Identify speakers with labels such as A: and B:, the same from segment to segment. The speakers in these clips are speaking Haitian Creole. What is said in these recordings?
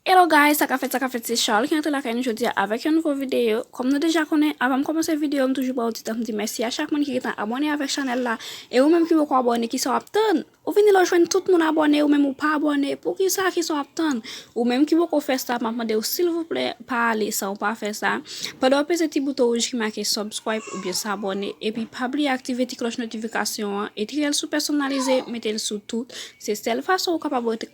A: Hello guys, sa ka fèt, sa ka fèt, se Charles ki antre lakay nou jodi a avèk yon nouvo videyo. Kòm nou deja konnen, avan m kòmanse videyo, m toujou ba ou ti tan m di mèsi a chak moun ki gen tan abone avèk chanèl la. E ou menm ki poko abone, ki sa w ap tann? Ou vini la ou jwenn tout moun abòne ou menm ou pa abòne poukisa kisa w ap tann ou menm ki poko fè sa map mande w silvouplè pa ale san w pa fè sa pandan w ap peze ti bouton wouj ki make subscribe oubyen s'abonner epi pa bliye aktive ti klòch notifikasyon an etriyèl sou pèsonalize mete l sou tout se sèl fason ou kapab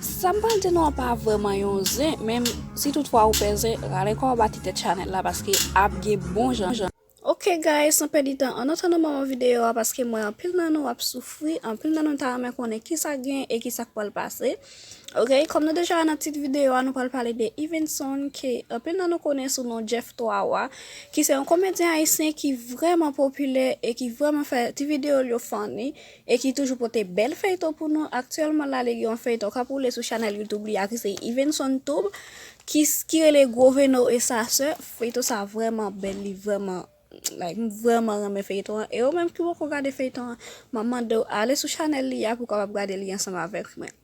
A: Sa m pral di nou an pa vrèman yon zen, men si tout fwa ou pè zen, rale kò w bati tèt chanèl la paske ap gen bon jan. Ok guys san pèdi tan an antann nou ban mwen videyo a paske m wè anpil nan nou ap soufri, anpil nan nou ta renmen konnen kisa k gen e kisa k pral pase ok. Kòm nou deja wè nan tit videyo a nou pral pale de Yvenson ke anpil nan nou konnen sou non Jeff 3 wa ki se yon komedyen ayisyen ki vrèman popilè e ki vrèman fè ti videyo l yo funny e ki toujou pote bèl feyton pou nou aktyèlman la li gen yon feyton kap woule sou chanèl youtube li a ki se Yvenson Toub ki ki rele Gros Veno et sa soeur feyton sa vrèman bèl li vrèman like m vrèman renmen feyton an e ou menm ki poko gade feyton an map mandew ale sou chanèl li a pou kapab gade li ansanm avèk mwen.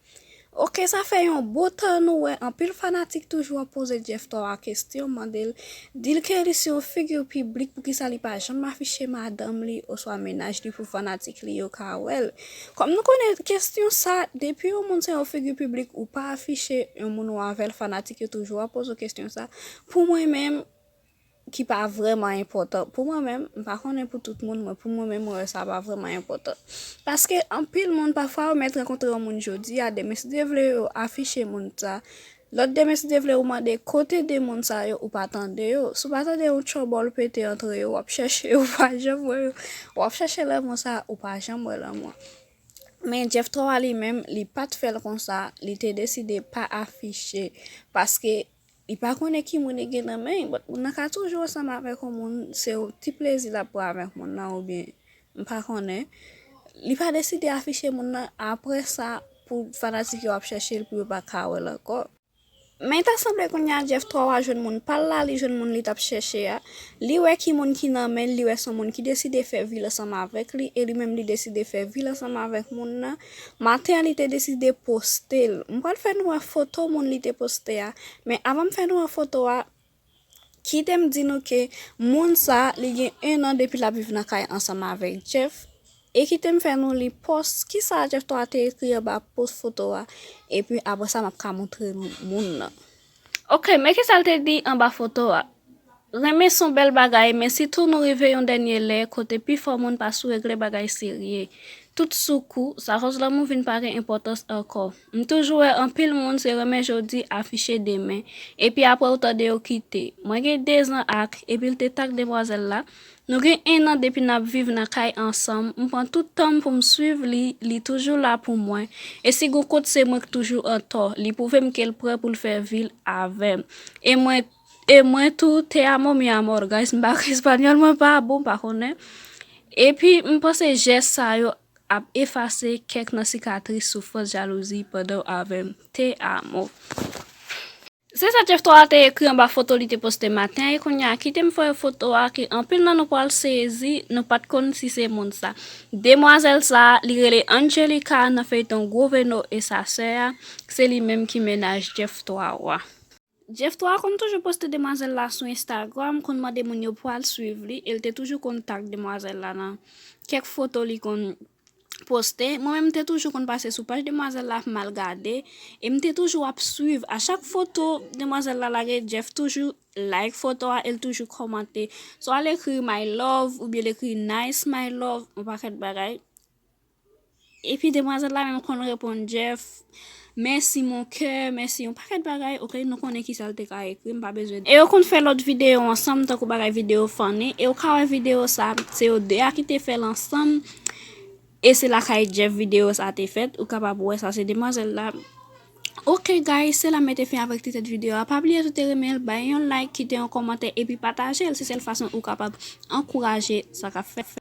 A: Ok sa fè yon bon tan nou wè anpil fanatik toujou ap poze Jeff Thora kestyon mandel dil ke li se yon figure publique poukisa li pa janm afiche madanm li oswa mennaj li pou fanatik li yo ka wèl kòm nou konnen kestyon sa depi yon moun se yon figure publique ou pa afiche yon moun ou avèl fanatik yo toujou ap poze w kestyon sa pou mwen menm ki pa vrèman enpòtan pou mwen menm, m pa konnen pou tout moun mwen pou mwen menm mwen wè sa pa vrèman enpòtan. Paske anpil moun pafwa ou mèt rankontre yon moun jodi a demen si Dye vle yo afiche moun sa, lòt demen si Dye vle ou mande kote 2 moun sa yo ou pa tande yo, si w pa tande yon tchòbòl pete antre yo w ap chèche yo ou pa janm wè yo, w ap chèche lanmou sa ou pa janm wè lanmou an. Men Jeff Throy li menm li pat fè l konsa li te deside pa afiche paske Li pa konnen ki moun li gen nan men, but moun nan ka toujou ansanm avèk yon moun, se yon ti plezi lap pran avèk moun nan ou byen m pa konnen, li pa deside afiche moun nan aprè sa pou fanatik yo ap chèche l pou yo pa ka wè l ankò. Men ta sanble kounya Jeff 3 wa jwenn moun pa l la, li jwenn moun li tap chèche a, li wè ki moun ki nan men l, li wè son moun ki deside fè vi l ansanm avèk li e li menm li deside fè vi l ansanm avèk moun nan, Maten an li te deside poste l. M pral fè nou wè foto moun li te poste a. Men avan m fè nou wè foto a, kite m di nou ke moun sa li gen 1 an depi l ap viv nan kay ansanm avèk Jeff. E kite m fè nou li pòs, kisa Jeff 3 te ekri anba pòs foto a. Epi apresa m ap ka montre nou moun nan. Ok men kisal te di anba foto a. Renmen son bèl bagay men sitou nou rive yon dènye lè kote pi fò moun pa sou regle bagay serye. Tout sou kou, sa koz lanmou vin pa gen enpòtans ankò. M toujou wè anpil moun se renmen jodi afiche demen. Epi aprè ou tande yo kite. Mwen gen 2 zan ak, epi l te tak demwazèl la, Nou gen 1 an depi nap viv nan kay ansanm, m pran tout tanm pou m swiv li, li toujou la pou mwen, e si gon kot se mwen k toujou antò, li pwouve m ke l prè pou l fè vi l avè m, e mwen e mwen tou, te amo mi amor guys m pa espanyòl mwen pa bon m pa konnen, epi m panse jès sa yo ap efase kèk nan sikatris soufrans jalouzi pandan w avè m, te amo. Se sa Jeff Thora te ekri anba foto li te poste maten an e kounye a kite m fè yon foto a ke anpil nan nou pral sezi nou pat konn si se moun sa. Demwazèl sa, li rele Angelica nan feyton Gwo Veno e sa sè a, se li menm ki mennaj Jeff Thora. Jeff Thora konn toujou poste demwazèl la sou Instagram, konn mande moun yo pwal swiv li e l te toujou konn tag demwazèl la nan kèk foto li konn poste, mwen menm m te toujou konn pase sou paj demwazèl la mal gade, e m te toujou ap swiv a chak foto demwazèl la lage Jeff toujou like foto a e l toujou kòmante swa l ekri my love oubyen l ekri nice my love yon pakèt bagay epi demwazèl la menm konn reponn Jeff. Mèsi mon coeur mèsi yon pakèt bagay ok nou konnen kisal te ka ekri m pa bezwen e yo konn fè lòt video ansanm tankou bagay video funny e ou ka wè video sa se yo 2 a ki te fèl ansanm e se lakay Jeff video sa te fèt ou kapab wè sa se demwazèl la ok guys se la m mete fen avèk ti tèt video a pa bliye si w te renmen l bay yon like kite yon kòmantè epi pataje l se sèl fason ou kapab ankouraje sa k ap fèt.